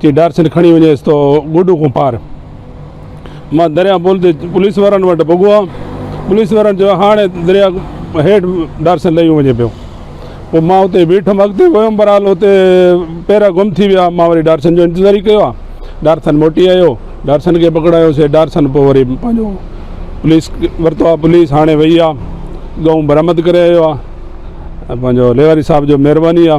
جي ڊار سنڌ کڻي وڃيس تو گوڏو کون پار. مان درياهه پل تي پوليس وارن وٽ پڳو ها. پوليس وارن چيو هاڻي درياهه هيٺ ڊار سنڌ لهيو وڃي پيو. پوء مان اتي ئي بيٺم. اڳتي ويم برحال اتي پيرا گم ٿي ويا. مان وري ڊار سنڌ جو انتظار ئي ڪيو ها. ڊار سنڌ موٽي آيو. ڊار سنڌ کي پڪڙايو سي. ڊار سنڌ پوء وري پنهنجو پوليس ورتو ها. پوليس هاڻي وئي ها. ڳئون برآمد ڪري آيو ها. پنهنجو ليواري صاحب جو مهرباني ها.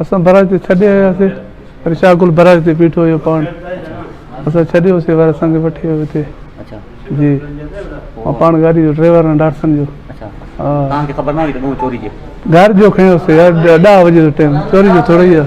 اسان برج تي ڇڏي آياسين وري شاهه گل برج تي بيٺو هيو پاڻ اسان ڇڏيوسين وري اسان کي وٺي ويو هتي جي مان پاڻ گاڏي جو ڊرائيور آهيان ڊاٽسن جو توهان کي خبر نه هئي ته ڏون چوري جي گهر جو کيوسي يار 10 بجي جو ٽائيم چوري جو ٿوري آهي.